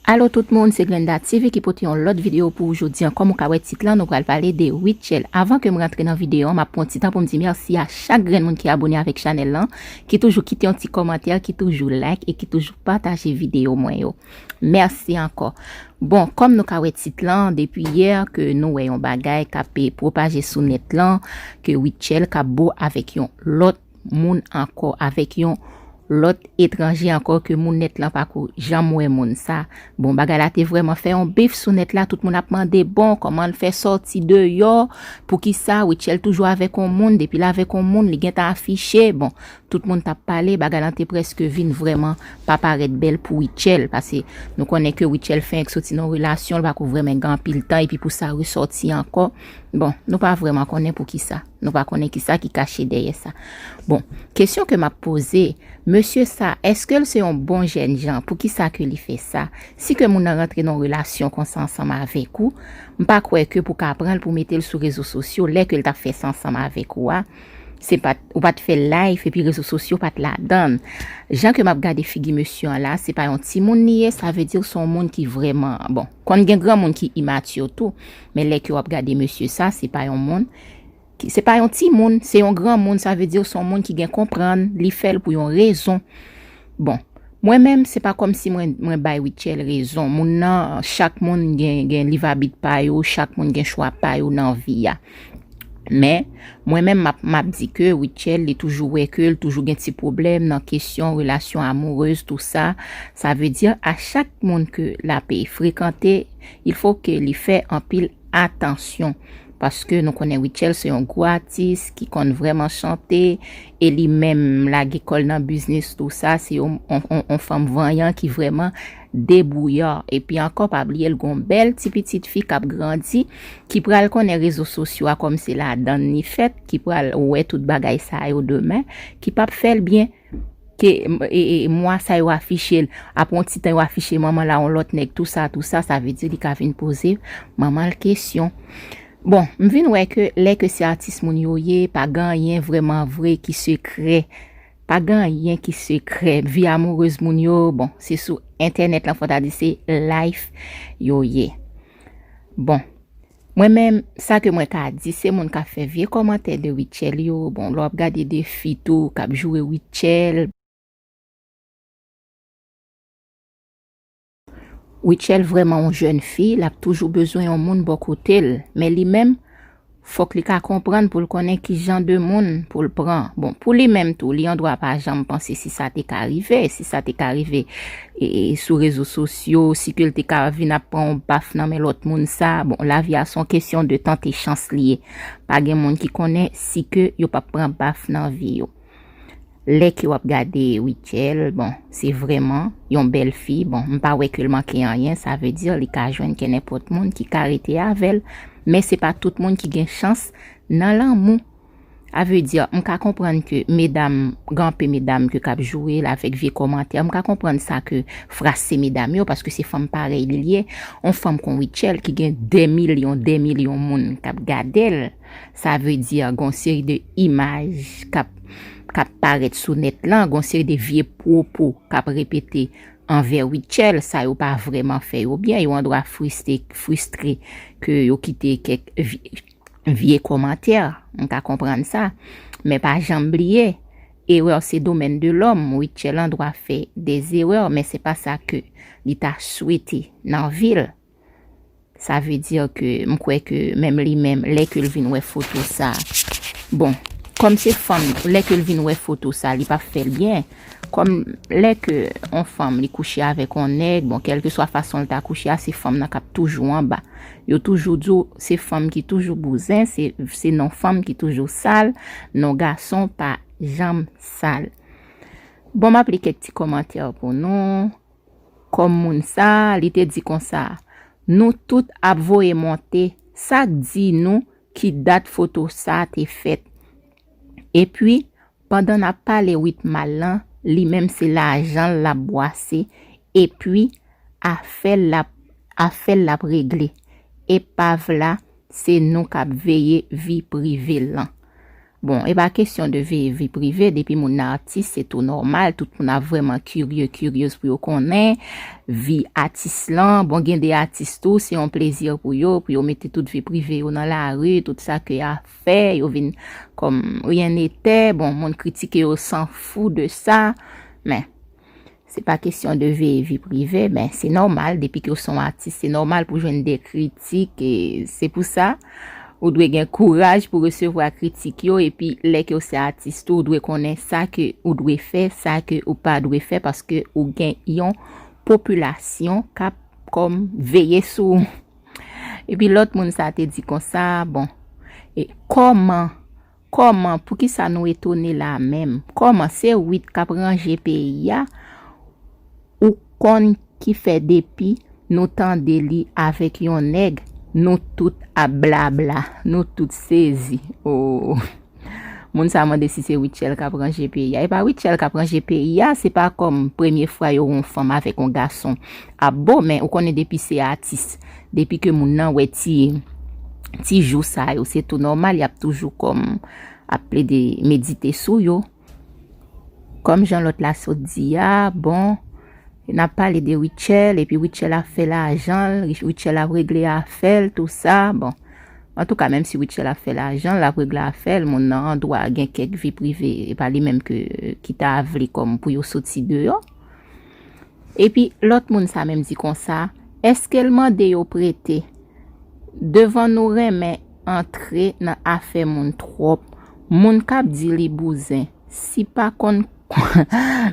Alo tout moun se Glenda TV ki pote yon lòt video pou ou jodi an kòm ou ka wè tit lan nou pral pale de Rutshelle avan kem rantre nan video an map pran yon ti tan poum di mèsi a chak grenn moun ki abone avèk chanèl lan ki toujou kite yon ti kòmantè ki toujou like e ki toujou pataje video mwen yo mèsi ankò bon kòm nou ka wè tit lan depi yè ke nou wè yon bagay kap propaje sou nèt lan ke Rutshelle kap bo avèk yon lòt moun ankò, avèk yon lòt etranje ankò ke moun nèt lan pa ko janm wè moun sa. Bon, bagay la te vrèman fè yon bif sou nèt la, tout moun ap mande, bon, kòman l fè sòti deyò, pou ki sa Rutshelle toujou avèk yon moun, depi l avèk yon moun, li gentan afiche, bon, tout moun t ap pale, bagay lan te prèske vin vrèman pa parèt bèl pou Rutshelle, pase nou konnen ke Rutshelle fenk sòti nan yon relasyon, l pa ko vrèmen gen anpil tan, epi pou sa resòti ankò, bon, nou pa vrèman konnen pou ki sa. Nou pa konnen ki sa ki kache dèyè sa. Bon, kesyon ke m ap poze, mesye sa, eske l se yon bon jèn jan? Pou ki sa ke li fè sa? Si ke moun nan rantre nan yon relasyon konsa ansanm avèk ou, m pa kwè ke pou ka pran l pou mete l sou rezo sosyo, lè ke l t ap fè sa ansanm avèk ou a, se pa t, ou pa t fè live epi rezo sosyo pa t ladan l. Jan ke m ap gade figi mesye an la, se pa yon timoun li ye, sa vle di se yon moun ki vrèman, bon, konn gen granmoun ki immature tou, men lè ke w ap gade mesye sa, se pa yon moun. ki se pa yon ti moun, se yon gran moun, sa vle di son moun ki gen konprann, li fè l pou yon rezon. Bon, mwen menm se pa kòm si mwen mwen bay Rutshelle rezon. Moun nan, chak moun gen gen liv abit pa yo, chak moun gen chwa pa yo nan vi a. Men, mwen menm map map di ke Rutshelle li toujou wè ke l toujou gen ti pwoblèm nan kesyon relasyon amourez tou sa. Sa vle di a chak moun ke lape frekante, il fo ke li fè anpil atansyon. Paske nou konnen Rutshelle se yon gwo atis ki konn vrèman chante e li menm lage kò l nan biznis tou sa se yon yon fanm vanyan ki vrèman debwouya epi ankò pa bliye l gen yon bèl ti pitit fi k ap grandi ki pral konnen rezo sosyo a kòm se ladan l li fèt ki pral wè tout bagay sa yo demen ki p ap fè l byen. ke mwa sa yo afiche l apre yon ti tan yo afiche manman l a yon lòt nèg tou sa tou sa sa vle di li ka vin poze manman l kesyon bon m vin wè ke lè ke se atis moun yo ye pa gen anyen vrèman vre ki sekrè pa gen anyen ki sekrè vi amourez moun yo bon se sou entènèt lan fò ta di se life yo ye bon Mwen menm sa ke mwen ka di se moun kap fè vye kòmantè de Rutshelle yo bon lè wap gade de fi tou kap joure Rutshelle, Rutshelle vrèman yon jèn fi lap toujou bezwen yon moun bò kotel men li menm fòk li ka konprann poul konnen kijan de moun poul pran bon pou li menm tou li andwa pa janm panse si sa te ka rive si sa te ka rive sou rezo sosyo, si ke l te ka vin ap pran yon baf nan men lòt moun sa, bon lavi a son kesyon de tante chans li ye, pa gen moun ki konnen si ke yo pap pran baf nan vi yo. Lè ke wap gade Rutshelle, bon se vrèman yon bèl fi, bon m pa wè ke l manke anyen, sa vle di li ka jwenn kè nenpòt moun ki ka rete avè l, men se pa tout moun ki gen chans nan lanmou. A veut dire m ka konprann ke medam gen anpe medam ke kap joure la avèk vye kòmantè m ka konprann sa ke fras se medam yo paske se fanm parèy li liye on fanm kon Rutshelle ki gen dè milyon dè milyon moun kap gadel sa veut dire gen on seri de imaj kap kap parèt sou nèt lan gen on seri de vye pwopo kap repete anvè Rutshelle sa yo pa vrèman fè yo byen yo andwa friste fristre ke yo kite kèk vye Vye komantè, m ka konprann sa, men pa janm bliye, erreur se domaine de l'homme, Rutshelle an dwa fè des erreurs men se pa sa ke li ta swete nan vi l, sa vle dire ke m kwè ke menm li menm lè ke l vin wè foto sa, bon, kòm se fanm lè ke l vin wè foto sa li pap fè l byen. Kòm lè ke on fanm li kouche avèk on nèg, bon kèlkeswa fason li ta kouche a, se fanm nan k'ap toujou anba. Yo toujou di w, se fanm ki toujou bouzen, se non fanm ki toujou sal, non gason pa janm sal. Bon m'ap li kèk ti kòmantè pou nou, kòm moun sa, li te di konsa, Nou tout ap voye monte, sa'k di nou ki dat foto sa te fèt? Epi, Pandan nap pale wit mal lan li menm se lajanl lap bwase epui afèl lap afèl lap regle epav la se nou kap veye vi privel lan bon epa kesyon de veye vi prive depi moun nan atis se tou nòmal tout moun ap vrèman kirye kiryez pou yo konnen vi atis lan bon gen de atis tou se yon plezi pou yo pou yo mete tout vi prive yo nan lari tout sa ke fè, yo vin kòm ryen netè, bon moun kritike yo san fou de sa, men se pa kesyon de veye vi prive, men se nòmal depi ke ou son atis, se nòmal pou jwenn de kritik, e se pou sa ou dwe gen kouraj pou resevwa kritik yo, epi lè ke ou se atis tou ou dwe konnen sa ke ou dwe fè, sa ke ou pa dwe fè, paske ou gen yon popilasyon kap kòm veye sou ou. Epi lòt moun sa te di konsa, Bon, e kòman, kòman, poukisa nou etone la a menm? Kòman, se Wit k ap ranje peyi a, ou konn ki fè depi nou tande li avèk yon nèg, nou tout ap blabla, nou tout sezi. O! Moun sa mande si se Rutshelle kap ranje peyi a. E pa Rutshelle kap ranje peyi a, se pa kòm premye fwa yo wè yon fanm avèk yon gason ap bo, men ou konnen depi se atis, depi ke moun nan wè ti ti jou sa yo, se tou nòmal yap toujou kòm ap plede medite sou yo. Kòm jan lòt la sot di a, bon, n ap pale de Rutshelle, epi Rutshelle ap fè lajan l, Rutshelle ap regle afè l, tou sa, bon. Antouka, menm si Rutshelle ap fè lajan l, l ap regle afè l, moun nan andwa gen kèk vi prive, e pa li menm ke ki ta vle kòm pou yo soti deyò. Epi, lòt moun sa menm di konsa, èske l mande yo prete? Devan nou renmen. antre nan afè moun trop moun kap di li bouzen si pa konn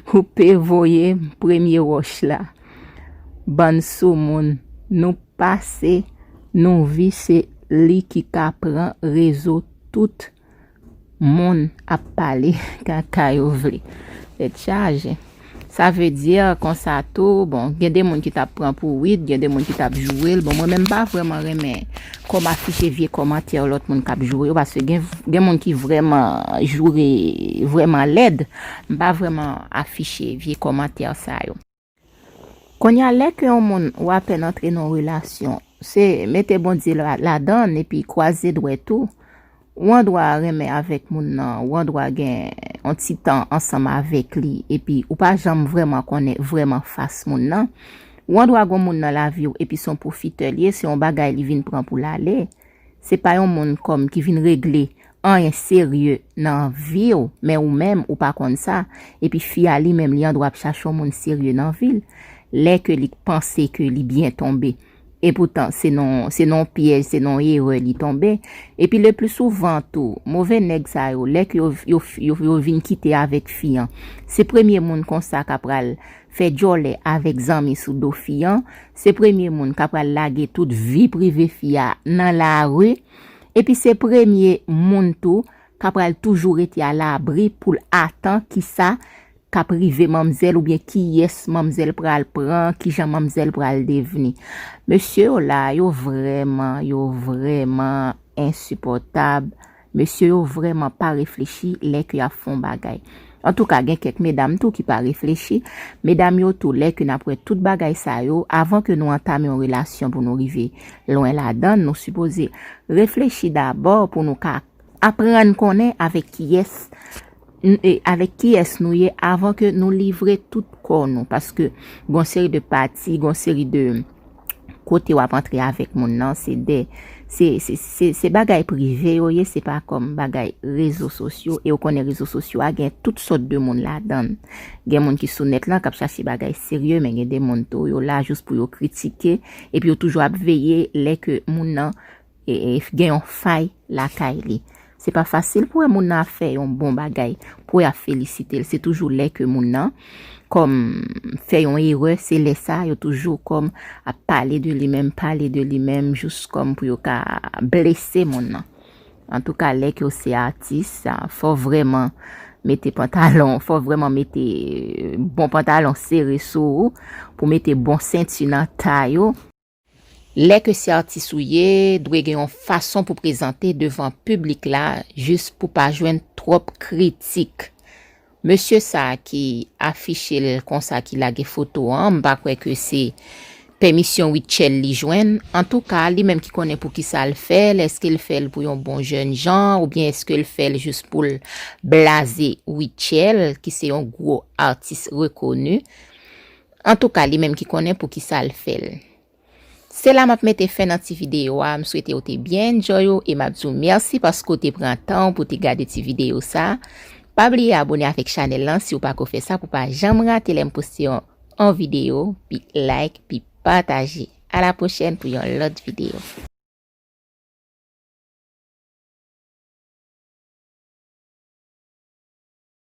koupe voye premye roch la bann sou moun nou pase nou vi se li ki ka pran rezo tout Moun ap pale kaka yo vle. Tèt chaje. Sa vle di konsa tou, bon, gen de moun ki tap pran pou wid, gen de moun ki tap joure l. Bon, mwen menm m pa vreman renmen kòm afiche vye kòmantè lòt moun kap joure yo paske gen moun ki vreman joure vreman lèd. M pa vreman afiche vye kòmantè sa yo. Konnya lè ke yon moun ou apèn antre nan yon relasyon se mete Bondye ladann epi kwaze dwèt ou, ou andwa renmen avèk moun nan, ou andwa gen yon ti tan ansanm avèk li epi ou pa janm vrèman konnen vrèman fas moun nan, ou andwa gon moun nan laviw epi son pwofitè li ye se yon bagay li vin pran poul ale, Se pa yon moun kòm ki vin regle anyen serye nan vi w men ou menm ou pa konn sa epi fi a li menm li andwa ap chache yon moun serye nan vi l lè ke li panse ke li byen tonbe epoutan se nan se nan yon pyèj se nan yon erè li tonbe epi le pli souvan tou move nèg sa yo lè ke yo yo yo vin kite avèk fi an se premye moun konsa ka pral fè djòlè avèk zanmi sou do fi an, se premye moun ka pral lage tout vi prive fi a nan lari, epi se premye moun tou ka pral toujou rete a labri pou l atan kisa k ap rive manmzèl oubyen kiyès manmzèl pral pran, kijan manmzèl pral devni. Mesye yo la, yo vrèman, yo vrèman ensipòtab, Mesye yo vrèman pa reflechi lè ke yap fon bagay. Antouka gen kèk medam tou ki pa reflechi. Medam yo tou lè ke nap wè tout bagay sa yo, avan ke nou antame yon relasyon pou nou rive lwen ladann, nou sipoze reflechi dabò pou nou ka aprann konnen avèk kiyès avèk kiyès nou ye avan ke nou livre tout kò nou. Paske gon seri de pati, gon seri de. kote wap antre avèk moun nan se de se bagay prive yo ye se pa kòm bagay rezo sosyo e ou konnen rezo sosyo a gen tout sòt de moun ladan gen moun ki sou nèt lan kap chache bagay serye men gen de moun tou yo la jous pou yo kritike epi yo toujou ap veye lè ke moun nan gen yon fay lakay li. Se pa fasil pou wè moun nan ap fè yon bon bagay, pou wè y ap felisite l. Se toujou lè ke moun nan kòm fè yon erè, se lè sa a yo toujou kòm ap pale de li menm, pale de li menm jous kòm pou yo ka blese moun nan. Antouka lè ke w se atis, fò w vrèman mete pantalon, fò w vrèman mete bon pantalon sere sou ou, pou w mete bon senti nan tay ou. Lè ke se atis ou ye, dwe gen yon fason pou prezante devan piblik la jis pou pa jwenn twòp kritik. Mesye sa ki afiche l konsa ki lage foto an, m pa kwè ke se pèmisyon Rutshelle li jwenn. Antouka, li menm ki konnen poukisa l fè l, eske l fè l pou yon bon jèn jan oubyen eske l fè l jis pou l blaze Rutshelle ki se yon gwo atis rekoni. Antouka li menm ki konnen poukisa l fè l. Se la map mete fen nan ti video a, m swete ou te byen enjoy ou e map di w mèsi paske w te pran tan w pou w te gade ti video sa. Pa bliye abone avèk chanèl lan si w pako fè sa pou w pa janm rate lè m poste yon on video, pi like, pi pataje. A la pwochèn pou yon lòt video.